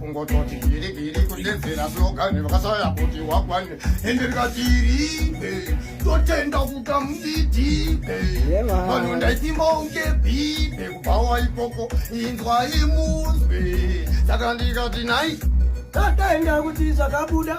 kungototi biri biri kudedzera slogani vakasaya kuti wakwane ende rikatiribe totenda kuta mudidibe vanhu ndaitimonge bibe kubhawa ikoko inzwa imuzwe saka ndikati nai tataenda kuti zvakabuda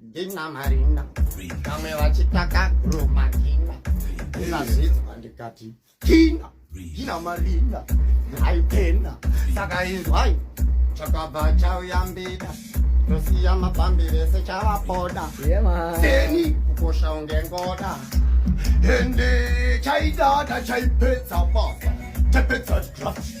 ndinamarinda vamwe vachitaka gromakina ndinazvidzwa ndikati kina ndinamarinda aipenda saka inzwai chakabva chauya mbida tosiya mapambi vese chavapoda seni kukosha unge ngoda ende chaidada chaipedza basa chapedza draft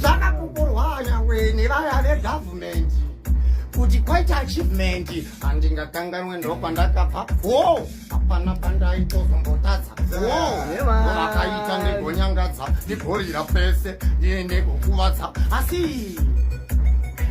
Zama kukurwanya weni vaya vegovernment kuti kwaita achievement handingakanganwe ndopandakabva go hapana pandaitozongotadza govakaita ndigonyangadza ndigorira pese ndigokuvadza asi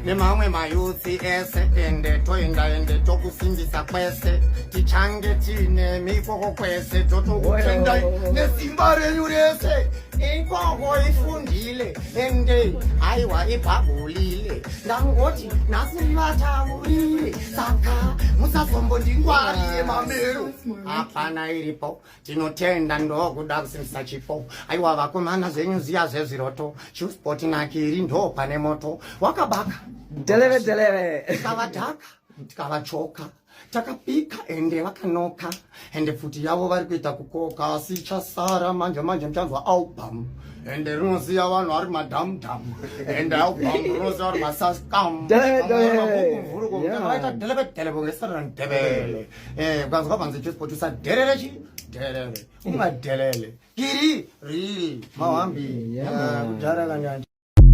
nemamwe mayuthi ese ende toenda ende tokusimbisa kwese tichange tiine mikoko kwese totokuendai nesimba renyu rese Ikoko ifundile ende haiwa ibhabhulile ndangoti nhasi vataurile saka musazombondingwarire mamero hapana iripo tinotenda ndokuda kusimbisa chipo aiwa vakomana zvenyu ziya zvezviroto chuspoti nakiri ndo pane moto wakabaka deleve deleve tikavadhaka tikavachoka takapika ende vakanoka ende pfuti yavo vari kuita kukoka asi chasara manje manje muchanzwa album ende rinoziva vanhu vari madhamudhamu ende album rinoziva vari masaskamuaita delebedelebe ngesara ndebele eh, ukanzwa panzi chisportusa dherere chi dherere ungadelele kiri riri mawambi kudhara kanyanja